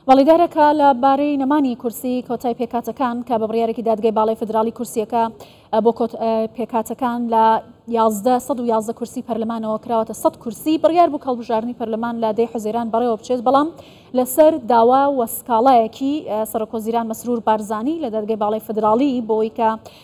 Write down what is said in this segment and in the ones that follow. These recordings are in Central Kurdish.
بەڵیدارە کە لە بارەی نەمانی کورسی کۆتای پێکاتەکان کە بە بڕیارێکی دادگای باڵی فدراڵی کورسیەکە بۆ پێکاتەکان لە 1111 کورسی پەرلەمانەوە کراوەتە 100 کورسی بڕیار بوو کەڵبژارنی پەرلەمان لە دەی حزێران بەڕێوە بچێت بەڵام لەسەر داوا وە سکاڵایەکی سەرۆکۆزیران مەسرور بارزانانی لە دادگەی باڵی فدراڵی بۆی کە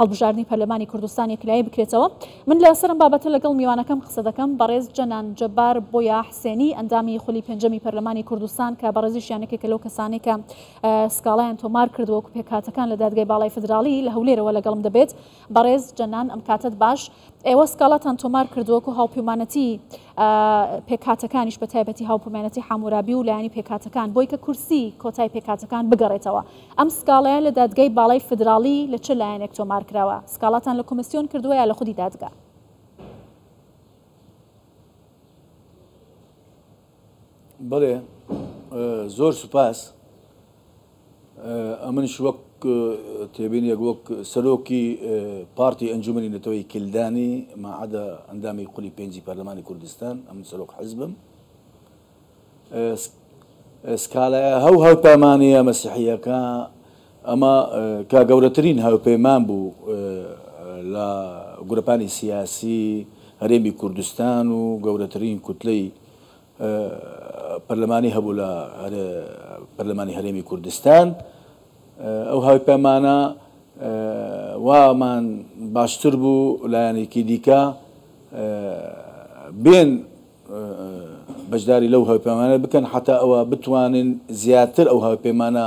هەڵبژاردنی پەرلەمانی کوردستان یەکلایی بکرێتەوە، من لە سەرم بابەتە لەگەڵ میوانەکەم قسە دەکەم، بەڕێز جەنان جەبار بۆیا حسێنی ئەندامی خولی پێنجەمی پەرلەمانی کوردستان کە بەڕێزیشیان یەکێکە لەو کەسانەی کە سکاڵایان تۆمار کردووە و پێکهاتەکان لە دادگای باڵای فیدراڵی لە هەولێرەوە لەگەڵم دەبێت، بەڕێز جەنان ئەم کاتەت باش. ئێوە سکاڵاتان تۆمار کرد وەکو هاوپیمانەتی پێکاتەکانیش بە تایبەتی هاوپیمانەتی حامورابی و لایانی پێکاتەکان بۆی کە کورسی کۆتای پێکاتەکان بگەڕێتەوە ئەم سکاڵەیە لە دادگای باڵای فدراڵی لە چ لایەنێک تۆمار کراوە سکاڵاتان لە کۆمسیۆن کردووە یا لە خودی دادگا بەڵێ زۆر سوپاس ئەمنش وەک تێبینێک وەک سەرۆکی پارتی ئەنجومنی نەتەوەی کلدانی ماعادە ئەندامی قولی پێنجی پەرلەمانی کوردستان ئەمن سەرۆک حزبم سکالایە هەو هەوپەمانەیە مەسیحیەکە ئەمە کە گەورەترین هاوپەیمان بوو لە گروپانی سیاسی هەرێمی کوردستان و گەورەترین کوتلەی پەرلەمانی هەبوو لە پەرلەمانی هەرێمی کوردستان ئەو هاوپەیمانە وامان باشتر بوو لایەنێکی دیکە بێن بەشداری لەو هاوپەیمانە بکەن حەتا ئەوە بتوانن زیاتر ئەو هاوپەیمانە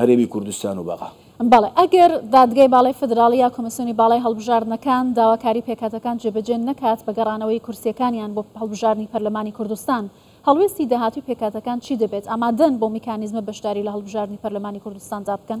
هەرێمی کوردستان و بەغا. بەڵێ، ئەگەر دادگای باڵای فیدراڵی یا کۆمیسیۆنی باڵای هەڵبژاردنەکان داواکاری پێکهاتەکان جێبەجێ نەکات بە گەڕانەوەی کورسییەکانیان بۆ هەڵبژاردنی پەرلەمانی کوردستان، هەڵوێستی داهاتووی پێکهاتەکان چی دەبێت؟ ئامادەن بەو میکانیزمە بەشداری لە هەڵبژاردنی پەرلەمانی کوردستاندا بکەن؟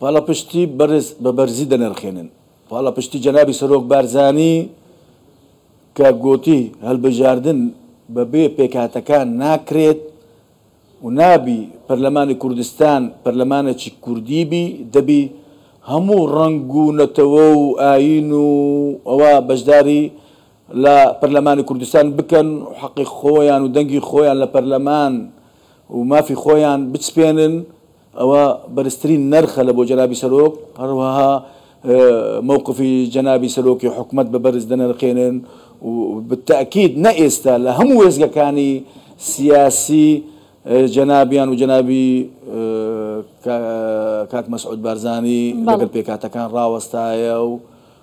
پاڵاپشتی بەڕێز بە بەرزی دەنرخێنن. پاڵاپشتی جەنابی سەرۆک بارزانی کە گۆتی، هەلبژاردن بە بێ پێکهاتەکان ناکرێت و نابی پەرلەمانی کوردستان پەرلەمانەکی کوردی بی، دەبی هەموو ڕەنگ و نەتەوە و ئایین و ئەوە بەشداری لە پەرلەمانی کوردستان بکەن و حەقی خۆیان و دەنگی خۆیان لە پەرلەمان و مافی خۆیان بچپێنن ئەوە بەرزترین نەرخە لە بۆ جەنابی سەرۆک هەروەها مەوقفی جەنابی سەرۆکی حکومەت بە بەرز دەنرخێنن و بتەئکید نە ئێستا لە هەموو وێستگەکانی سیاسی جەنابیان و جەنابی کاک مەسعود بارزانی لەگەڵ پێکهاتەکان ڕاوەستایە و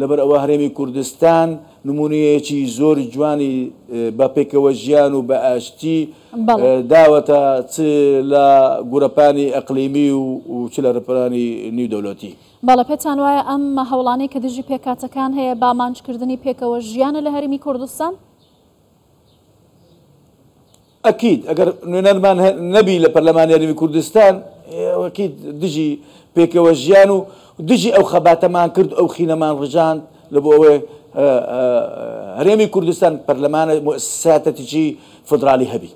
لەبەر ئەوە هەرێمی کوردستان نموونەیەکی زۆر جوانی بە پێکەوەژیان و بە ئاشتی داوەتە چ لە گورەپانی ئەقلیمی و چ لە رپرانی نیودەولەتی. بەڵێ پێتان وایە ئەم هەوڵانەی کە دژی پێکهاتەکان هەیە بە ئامانجکردنی پێکەوەژیانە لە هەرێمی کوردستان؟ ئەکید ئەگەر نوێنەرمان هە نەبی لە پەرلەمانی هەرێمی کوردستان ئەکید دژی پێکەوە ژیان و دژی ئەو خەباتەمان کرد ئەو خینەمان ڕژاند لە بۆ ئەوەی هەرێمی کوردستان پەرلەمانە مؤسساتەتیی فدرالی هەبی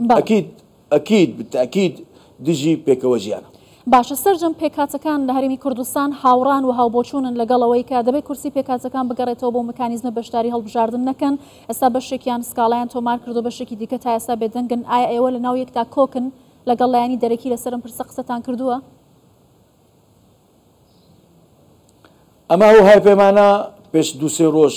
بەڵێ ئەکید ئەکید بالتاکید دژی پێکەوە ژیانە. باشە سەرجەم پێکهاتەکان لە هەرێمی کوردستان هاوڕان وهاوبۆچوونن لەگەڵ ئەوەی کە دەبێت کورسی پێکهاتەکان بگەڕێتەوە بۆ مکانیزمە بەشداری هەڵبژاردن نەکەن ئێستا بەشێکیان سکاڵایان تۆمار کردوە بەشێکی دیکە تا ئێستا بێدەنگن ئایا ئێوە لە ناو یەکدا کۆکن لەگەڵ لایەنی دەرەکی لەسەر ئەم پرسە قسەتان کردوە؟ ئەمە ئەو هاوپەیمانە پێش دوو سێ ڕۆژ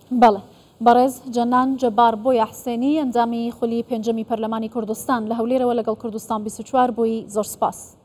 بەڵێ. بەڕێز جەنان جەبار بۆیا حسێنی، ئەندامی خولی پێنجەمی پەرلەمانی کوردستان، لە هەولێرەوە لەگەڵ کوردستان بیست و چوار بووی، زۆر سپاس.